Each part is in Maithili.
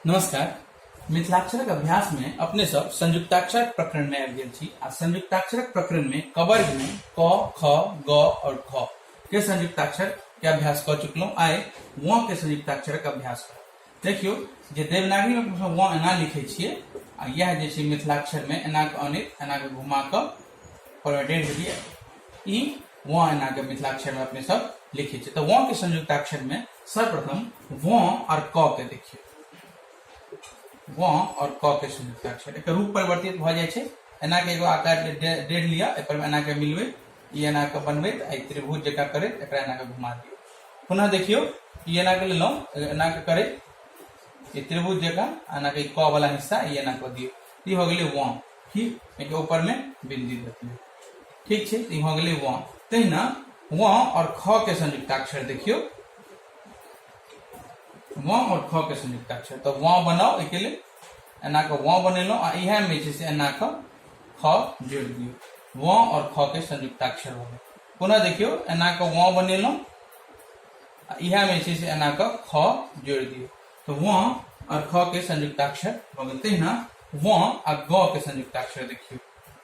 नमस्कार मिथिलाक्षरक अभ्यास में अपने सब संयुक्ताक्षर प्रकरण में आबि गेल छी आ संयुक्ताक्षर प्रकरण में कवर्ग में क ख ग और ख के संयुक्ताक्षर के अभ्यास कर चुकलहुँ आइ व के संयुक्ताक्षर के अभ्यास कर देखियो जे देवनागरी में अपने व एना लिखे छिए आ यह जे छै मिथिलाक्षर में एना के अनित एना के घुमा के फॉर्मेटेड हो जाइए ई व एना के मिथिलाक्षर में अपने सब लिखे छिए तो व के संयुक्ताक्षर में सर्वप्रथम व और क के देखिए व और क के संयुक्त अक्षर एक रूप परिवर्तित भ जाए एना के एगो आकार डेढ़ लिया एक एना के मिलबे ई एना के बनबे आई त्रिभुज जका करे एक एना के घुमा दियो पुनः देखियो ई एना के लेलो एना के करे ई त्रिभुज जका एना के क वाला हिस्सा ई एना को दियो ई हो गेले व ठीक एक ऊपर में बिंदी देते ठीक छै ई भऽ गेलै व तहिना व और ख के संयुक्ताक्षर देखियो व और ख के संयुक्ताक्षर तो व बनाओ एके लेल एना के व बनेलहुँ आ इहे में छै से एना के ख जोड़ दियो व और ख के संयुक्ताक्षर भऽ पुनः देखियो एना के व बनेलहुँ आ इहे में छै से एना के ख जोड़ दियो तो व और ख के संयुक्ताक्षर भऽ तहिना व आ ग के संयुक्ताक्षर देखियो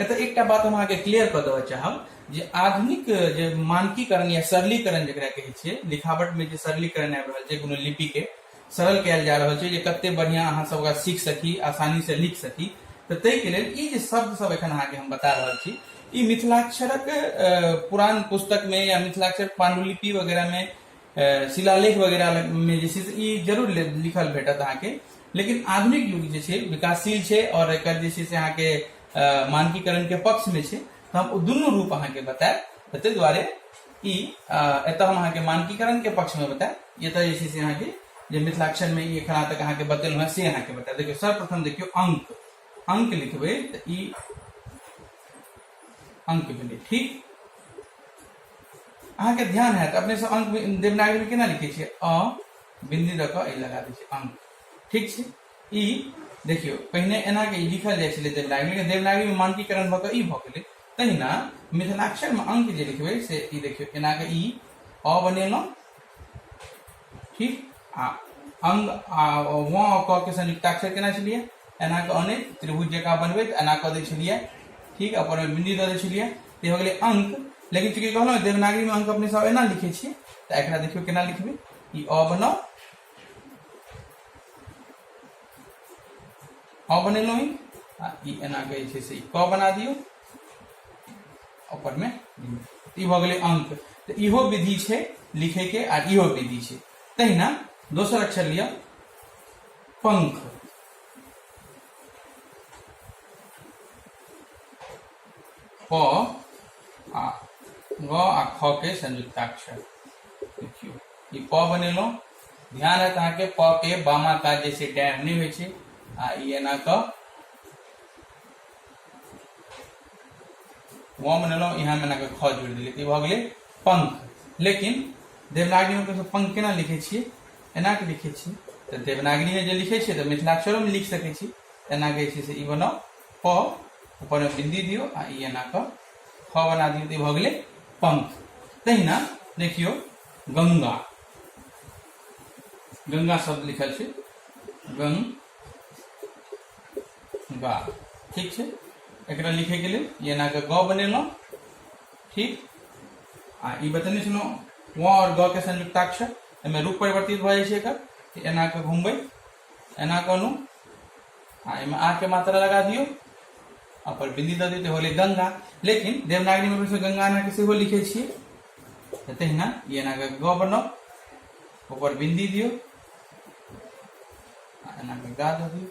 एतऽ एकटा बात हम अहाँके क्लियर कऽ देबऽ चाहब जे आधुनिक जे मानकीकरण या सरलीकरण जकरा कहै छै लिखावटमे जे सरलीकरण आबि रहल छै कोनो लिपिके सरल कयल जा रहल छै जे कते बढ़िआँ अहाँ सब ओकरा सीख सकी आसानीसँ लिख सकी तऽ ताहिके लेल ई जे शब्द सब एखन अहाँके हम बता रहल छी ई मिथिलाक्षरक अ, पुरान पुस्तकमे या मिथिलाक्षर पांडुलिपि वगैरहमे शिलालेख वगैरह में जे छै से ई जरूर लिखल भेटत अहाँके लेकिन आधुनिक युग जे छै विकासशील छै और एक जे छै से अहाँके मानकीकरण के पक्ष में छै तऽ हम दुनू रूप अहाँके बतायब तऽ ताहि दुआरे ई एतऽ हम अहाँके मानकीकरण के पक्ष में बतायब एतऽ जे छै से अहाँके जे मिथिलाक्षर में ई एखन तक अहाँके बतेलहुँ हेँ से अहाँके बतायब देखियौ सर्वप्रथम देखियौ अंक अंक लिखबै तऽ ई अंक भेलै ठीक अहाँके ध्यान हैत अपने सब अंक देवनागरी में केना लिखे छे अ बिंदी दऽ कऽ लगा दै छै अंक ठीक छै ई देखियो पहिने एना के लिखल जाय छे देवनागरी में देवनागरी में मानकीकरण भऽ कऽ ई भऽ गेलै तहिना मिथिलाक्षर में अंक जे लिखबै से ई देखियो एना के ई अ बनेलहुँ ठीक आ अंग आ वँ क के संयुक्ताक्षर केना छलियै एना कऽ अने त्रिभुज जकाँ बनबैत एना कऽ दै छलियै ठीक अपन ओहिमे बिंदी दऽ दै छलियै तऽ हो गेलै अंक लेकिन चूंकि कहलहुँ देवनागरीमे अंक अपने सब एना लिखै छियै तऽ एकरा देखियौ केना लिखबै ई अ बनाउ अ बनेलहुँ ई आ ई एना कऽ जे छै से ई क बना दियौ ऊपर में ई भऽ गेलै अंक तऽ इहो विधि छै लिखे के आ इहो विधि छै तहिना दोसर अक्षर लिअ पंख प आ ग आ ख के संयुक्ताक्षर देखियौ ई प बनेलहुँ ध्यान है अहाँके प के बामा कात जे छै डैम नहि होइ छै आ ई एना कऽ वॉम बनेलहुँ इएहमे एनाके ख जोड़ि देलियै तऽ ई भऽ गेलै पंख लेकिन देवनागरीमे हमसभ पंख केना लिखै छियै एनाके लिखै छियै तऽ देवनागरीमे जे लिखै छियै तऽ मिथिलाक्षरोमे लिख सकै छी एना जे छै से ई बनाउ प ऊपरमे बिन्दी दियौ आ ई एना कऽ ख बना दियौ तऽ ई भऽ गेलै पंख तहिना देखियौ गंगा गंगा शब्द लिखल छै गंग गा ठीक है एक लिखे के लिए ये ना ग बने ठीक आ ई बतने सुनो व और ग के संयुक्ताक्षर एहिमे रूप परिवर्तित भ जाए एकर तऽ एना कऽ घुमबै एना कहलहुँ आ एहिमे आ के मात्रा लगा दियो अपन बिंदी दऽ दियौ होले गंगा लेकिन देवनागरी में से गंगा एना के सेहो लिखे छियै तऽ तहिना ई एना कऽ ग बनाउ ऊपर बिंदी दियो एना के गा दबी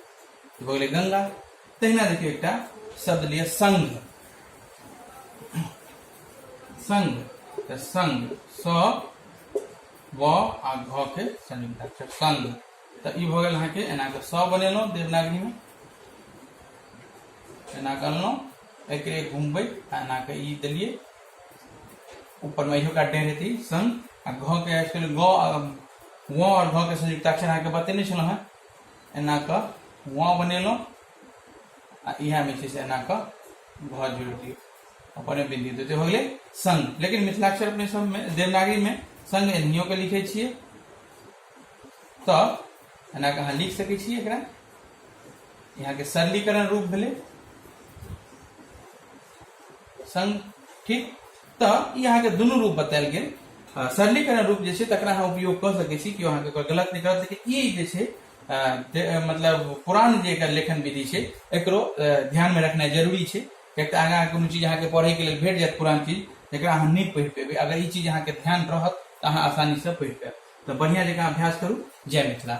तो बोले गंगा तहिना देखियो एकटा शब्द लिया संग संग तो संग स व आ घ के संयुक्त अक्षर संग तो ई भ गेल अहाँके एना के स बनेलहुँ देवनागरी में एना करलहुँ एकरे घुमबै आ एना के ई देलियै ऊपर में इहो काट देने थी संग आ घ के एक्चुअली ग व और घ के संयुक्त अक्षर अहाँ के बतेने छलहुँ हैं एना क व बनेलहुँ आ इहा में छै से एना क घ जोड़ दियो अपन में बिंदी देते हो गेले संग लेकिन मिथिलाक्षर अपने सब में देवनागरी में संग एनियो के लिखे छिए तो एना के अहाँ लिख सके छी एकरा यहाँ के सरलीकरण रूप भेले संग ठीक तऽ ई अहाँके दुनू रूप बतायल गेल अ, सरलीकरण रूप जे छै तकरा अहाँ उपयोग कऽ सकै छी केओ अहाँके ओकर गलत नहि करत लेकिन ई जे छै अ, दे- अ, मतलब पुरान जे एकर लेखन विधि छै एकरो अ, ध्यान मे रखनाइ जरूरी छै कियाक तऽ आगाँ कोनो चीज अहाँके पढ़े के लेल भेट जायत पुरान चीज जकरा अहाँ नहि पढ़ि पेबै अगर ई चीज अहाँके ध्यान रहत तऽ अहाँ आसानी से पढ़ि पायब तऽ बढ़िया जकाँ अभ्यास करू जय मिथिला